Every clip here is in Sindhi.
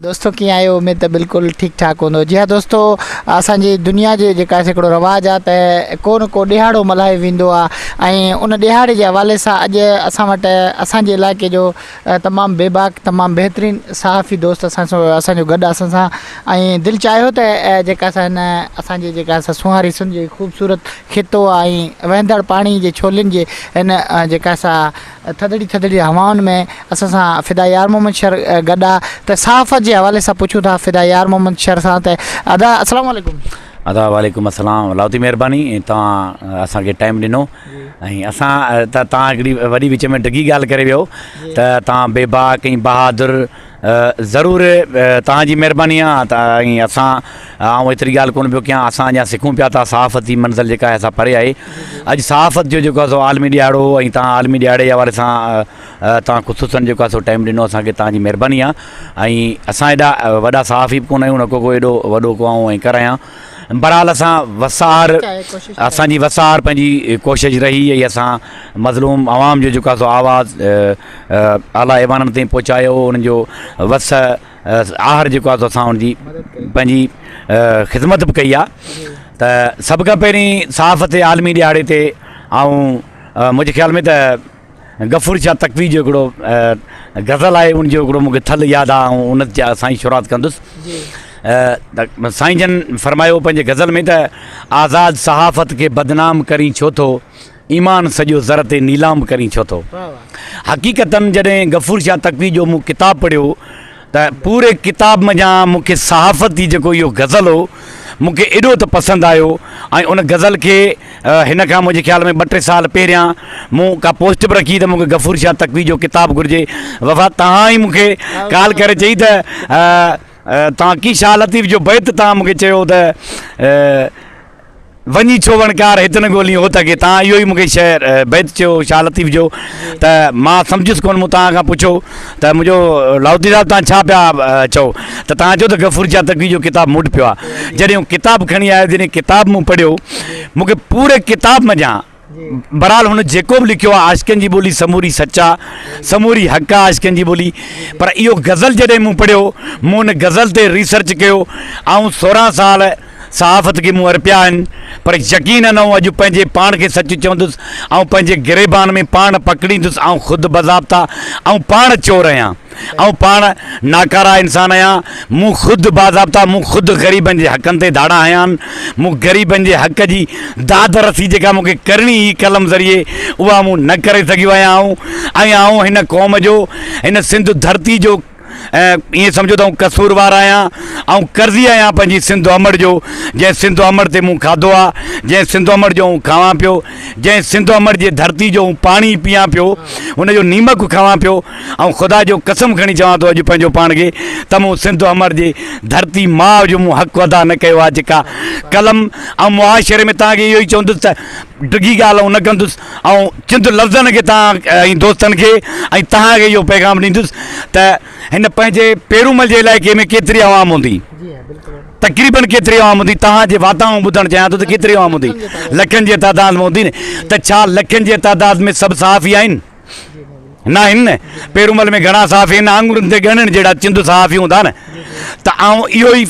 دوستو ڪيئن آهيو اميد ته بلڪل ٺيڪ ٺاڪ هوندو جي ها دوستو اسان جي دنيا جي جيڪا هڪڙو رواج آهي ته ڪو نه ڪو ڏيهاڙو ملهايو ويندو آهي ۽ ان ڏيهاڙي جي حوالي سان اڄ اسان وٽ اسان جي علائقي جو تمام بي باڪ تمام بهترين صحافي دوست اسان سو اسان جو گڏ اسان سان ۽ دل چاهيو ته جيڪا اسان هن اسان جي جيڪا اسان سونهاري سنڌ جي خوبصورت خطو آهي وهندڙ پاڻي جي ڇولين جي هن جيڪا اسان ٿڌڙي ٿڌڙي هوائن ۾ اسان سان فدا يار محمد شر گڏ آ ته صحافت جي حوالي سان پڇون ٿا فدا يار محمد شر سان ته ادا اسلام عليڪم. ادا وعليڪم اسلام لاھوتي مھرباني توھان اسان کي ٽائيم ڏنو ۽ اسان ته توھان ھڪڙي وڏي وچ ۾ ڊگھي ڳالھ ڪري ويو ته توھان بيباڪ ۽ بهادر ضرور توهان جي مهرباني آ ۽ اسان آئون ايتري ڳالهه ڪونه پيو ڪيان اسان اڃا سکون پيا ٿا صحافت جي منزل جيڪا آهي سا پري آهي اڄ صحافت جو جيڪو آهي سو عالمي ڏيهاڙو هو ۽ توهان عالمي ڏيهاڙي جي حوالي سان توهان خصوصا جيڪو آهي سو ٽائيم ڏنو اسان کي توهان جي مهرباني آ ۽ اسان ايڏا وڏا صحافي به ڪونه آهيون نه ڪو ڪو ايڏو وڏو ڪو آئون اينڪر آهيان بھرحال اسان وسار اسان جي وسار پنهنجي ڪوشش رهي ۽ اسان مظلوم عوام جو جيڪو آهي سو آواز اعليٰ ايوانن تائين پهچايو انهن جو وس آهر جيڪو آهي سو اسان ان جي پنهنجي خدمت به ڪئي آهي ته سڀ کان پهرين صحافت جي عالمي ڏهاڙي تي آئون منهنجي خيال ۾ ته غفور شاهه تقوي جو هڪڙو غزل آهي ان جو هڪڙو مونکي ٿل ياد آهي آئون ان جا سائين شروعات ڪندس سائين جن فرمايو پنهنجي غزل ۾ ته آزاد صحافت کي بدنام ڪرين ڇو ٿو ايمان سڄو زر تي نيلام ڪرين ڇو ٿو. حقيقتاً جڏهن غفور شاهه تقوي جو مون ڪتاب پڙهيو ته پوري ڪتاب منجهان مون کي صحافت جي جيڪو اهو غزل هو مون کي ايڏو ته پسند آيو ۽ ان غزل کي هن کان منهنجي خيال ۾ ٻه ٽي سال پهريان مون ڪا پوسٽ به رکي ته مون کي غفور شاهه تقوي جو ڪتاب گهرجي وفا توهان ئي مون کي ڪال ڪري چئي ته توهان ڪي شاهه لطيف جو بيت توهان مون کي چيو ته وڃي ڇو وڻڪار هت نه ڳولين هوت اڳي تان اهو ئي مون کي شعر بيت چيو شاهه لطيف جو ته مان سمجهيس ڪونه مون تان کان پڇو ته منهنجو لاهوتي صاحب تان ڇا پيا چئو ته تان چئو ته غفور شاهه تقوي جو ڪتاب موٽ پيو آ جڏهن هو ڪتاب کڻي آيو جڏهن ڪتاب مون پڙهيو مون کي پوري ڪتاب منجهان بھرحال ھن جيڪو به لکيو آ عاشقين جي ٻولي سموري سچ آ سموري حق آ عاشقين جي ٻولي پر اھو غزل جڏھن مون پڙھيو مون ان غزل تي ريسرچ ڪيو آئون سورھان سال صحافت کي مون ارپيا آھن پر يقين نه ھو اڄ پنھنجي پاڻ کي سچ چوندس آئون پنھنجي گريبان ۾ پاڻ پڪڙيندس آئون خود بضابطا آئون پاڻ چور ھيان. آئون پاڻ ناڪاره انسان آهيان، مون خود باضابطا مون خود غريبن جي حقن تي ڌاڙا هنيا آهن، مون غريبن جي حق جي داد رسي جيڪا مون کي ڪرڻي هئي قلم ذريعي اها مون نه ڪري سگهيو آهيان آئون ۽ آئون هن قوم جو هن سنڌ ڌرتي جو ائين سمجهو ته آئون قصوروار آهيان آئون قرضي آهيان پنهنجي سنڌ امڙ جو جنهن سنڌ امڙ تي مون کاڌو آ جنهن سنڌ امڙ جو آئون کاوان پيو جنهن سنڌ امڙ جي ڌرتي جو آئون پاڻي پيان پيو ان جو نيمڪ کاوان پيو آئون خدا جو قسم کڻي چوان ٿو اڄ پنهنجو پاڻ کي ته مون سنڌ امر جي ڌرتي ماء جو مون حق ادا نه ڪيو آهي جيڪا قلم آئون معاشري ۾ توهان کي اهو ئي چوندس ته ڊگهي ڳالهه آئون نه ڪندس آئون چند لفظن کي توهان ۽ دوستن کي ۽ توهان کي اهو پيغام ڏيندس ته هن پنهنجي پيرومل جي علائقي ۾ ڪيتري عوام هوندي تقريبن ڪيتري عوام هوندي توهان جي واتان آئون ٻڌڻ چاهيان ٿو ته ڪيتري عوام هوندي لکن جي تعداد ۾ هوندي نه ته ڇا لکن جي تعداد ۾ سڀ صحافي آهن نه هن پيرومل ۾ گهڻا صحافي هن آڱرن تي ڳڻڻ جهڙا چند صحافي هوندا نه ته آئون اهو ئي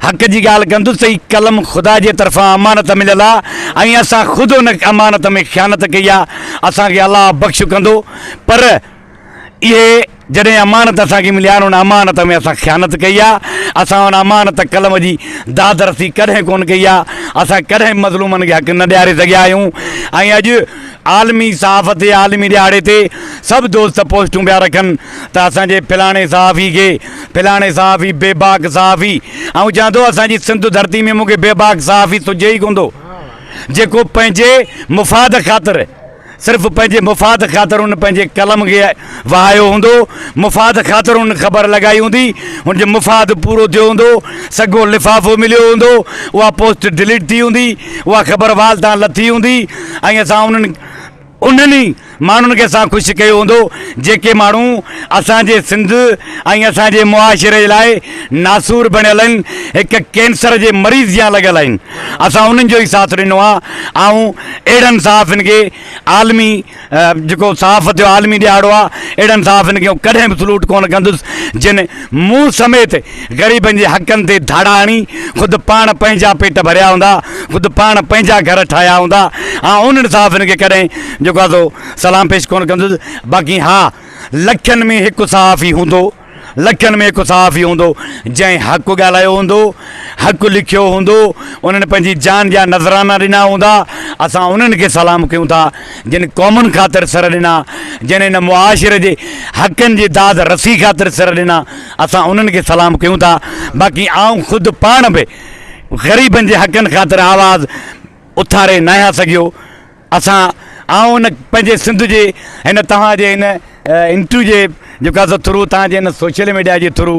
حق جي ڳالهه ڪندس ته هي قلم خدا جي طرفان امانت مليل آهي ۽ اسان خود ان امانت ۾ خيانت ڪئي آهي اسان کي الله بخش ڪندو پر اهي جڏهن امانت اسان کي ملي آهي ان امانت ۾ اسان خيانت ڪئي آهي، اسان ان امانت قلم جي دادرسي ڪڏهن ڪونه ڪئي آهي، اسان ڪڏهن به مظلومن کي حق نه ڏياري سگهيا آهيون ۽ اڄ عالمي صحافت جي عالمي ڏهاڙي تي سڀ دوست پوسٽون پيا رکن ته اسان جي فلاڻي صحافي کي فلاڻي صحافي بيباڪ صحافي آئون چوان ٿو اسان جي سنڌ ڌرتي ۾ مون کي بيباڪ صحافي سجهي ئي ڪونه ٿو جيڪو پنهنجي مفاد خاطر صرف پنهنجي مفاد خاطر هن پنهنجي قلم کي وهايو هوندو، مفاد خاطر هن خبر لڳائي هوندي، هن جو مفاد پورو ٿيو هوندو، سگهو لفافو مليو هوندو، اها پوسٽ ڊليٽ ٿي هوندي، اها خبر وال تان لٿي هوندي ۽ اسان انهن انهن ئي ماڻهن کي اسان خوش ڪيو هوندو جيڪي ماڻهو اسان جي سنڌ ۽ اسان جي معاشري لاء ناسور بڻيل آهن، هڪ ڪينسر جي مريض جيان لڳل آهن. اسان انهن جو ئي ساٿ ڏنو آهي. آئون اهڙن صحافين کي عالمي جيڪو صحافت جو عالمي ڏهاڙو آهي، اهڙن صحافين کي آئون ڪڏهن به سلوٽ ڪونه ڪندس، جن مون سميت غريبن جي حقن تي ڌاڙا هڻي خود پاڻ پنهنجا پيٽ ڀريا هوندا، خود پاڻ پنهنجا گهر ٺاهيا هوندا. آئون انهن صحافين کي ڪڏهن جيڪو آهي سو سلام پيش ڪونه ڪندس. باقي ها لکين ۾ هڪ صحافي هوندو. لکين ۾ هڪ صحافي هوندو، جنهن حق ڳالهايو هوندو، حق لکيو هوندو، انهن پنهنجي جان جا نذرانا ڏنا هوندا، اسان انهن کي سلام ڪيون ٿا، جن قومن خاطر سر ڏنا، جن هن معاشري جي حقن جي داد رسي خاطر سر ڏنا، اسان انهن کي سلام ڪيون ٿا، باقي آئون خود پاڻ به غريبن جي حقن خاطر آواز اٿاري ناهيان سگهيو. اسان آئون ان پنهنجي سنڌ جي هن توهان جي هن انٽرويو جي جيڪا سو ٿرو توهان جي هن سوشل ميڊيا جي ٿرو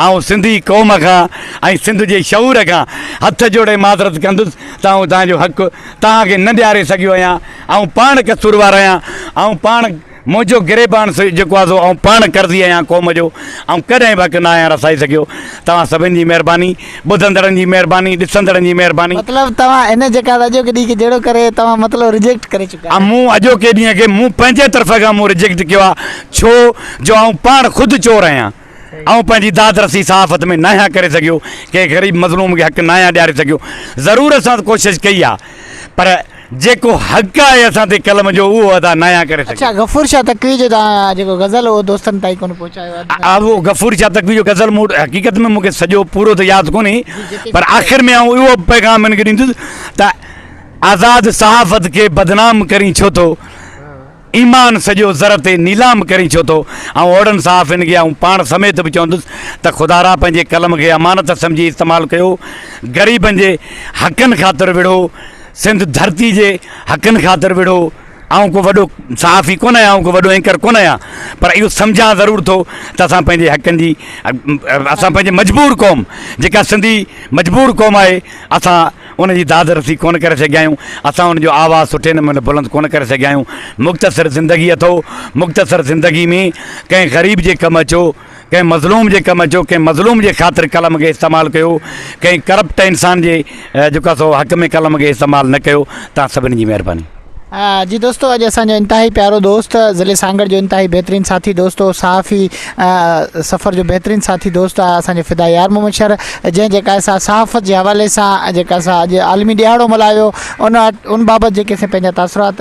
آئون سنڌي قوم کان ۽ سنڌ جي شعور کان هٿ جوڙي معذرت ڪندس ته آئون توهان جو حق توهان کي نه ڏياري سگهيو آهيان آئون پاڻ قصوروار آهيان آئون پاڻ منهنجو گريبان سو جيڪو آهي سو آئون پاڻ قرضي آهيان قوم جو آئون ڪڏهن به حق نه آهيان رسائي سگهيو توهان سڀن جي مهرباني ٻڌندڙن جي مهرباني ڏسندڙن جي مهرباني. مطلب توهان هن جيڪا اڄوڪي ڏينهن کي جهيڙو ڪري توهان مطلب رجيڪٽ ڪري چڪا آهيو. مون اڄوڪي ڏينهن کي مون پنهنجي طرف کان مون رجيڪٽ ڪيو آهي ڇو جو آئون پاڻ خود چور آهيان. آئون پنهنجي داد رسي صحافت ۾ ناهيان ڪري سگهيو، ڪنهن غريب مظلوم کي حق ناهيان ڏياري سگهيو، ضرور اسان ڪوشش ڪئي آ پر جيڪو حق آهي اسان تي قلم جو اهو ادا ناهيان ڪري سگهيو. اڇا غفور شاهه تقوي جو توهان جيڪو غزل اهو دوستن تائين ڪونه پهچايو آ. آ اهو غفور شاهه تقوي جو غزل مون وٽ حقيقت ۾ مونکي سڄو پورو ته ياد ڪونهي پر آخر ۾ آئون اهو پيغام هن کي ڏيندس ته آزاد صحافت کي بدنام ڪرين ڇو ٿو. ايمان سڄو زر تي نيلام ڪرين ڇو ٿو؟ آئون اوھڙن صحافين کي آئون پاڻ سميت به چوندس ته خدا را پنھنجي قلم کي امانت سمجھي استعمال ڪيو، غريبن جي حقن خاطر وڙھو، سنڌ ڌرتي جي حقن خاطر وڙھو، آئون ڪو وڏو صحافي ڪونه آھيان آئون ڪو وڏو اينڪر ڪونه آھيان پر اھو سمجھان ضرور ٿو ته اسان پنھنجي حقن جي اسان پنھنجي مجبور قوم جيڪا سنڌي مجبور قوم آھي اسان ان جي داد رسي ڪونه ڪري سگهيا آهيون، اسان ان جو آواز سٺي نموني بلند ڪونه ڪري سگهيا آهيون. مختصر زندگي اٿو، مختصر زندگي ۾ ڪنهن غريب جي ڪم اچو، ڪنهن مظلوم جي ڪم اچو، ڪنهن مظلوم جي خاطر قلم کي استعمال ڪيو، ڪنهن ڪرپٽ انسان جي جيڪو آهي سو حق ۾ قلم کي استعمال نه ڪيو، توهان سڀني جي مهرباني. جي دوستو اڄ اسان جو انتهائي پيارو دوست ضلعي سانگهڙ جو انتهائي بهترين ساٿي دوست هو صحافي سفر جو بهترين ساٿي دوست آهي اسان جو فدا يار محمد شر جنهن جيڪا اسان صحافت جي حوالي سان جيڪا اسان اڄ عالمي ڏهاڙو ملهايو ان ان بابت جيڪي اسان پنهنجا تاثرات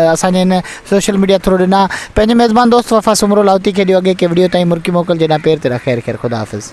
اسانجي ان سوشل ميڊيا ٿرو ڏنا پنهنجي ميزبان دوست وفا سمرو لاهوتي کي ڏيو اڳي ڪي ويڊيو تائين مرڪي موڪل جيڏا پير تيرا خير خير خدا حافظ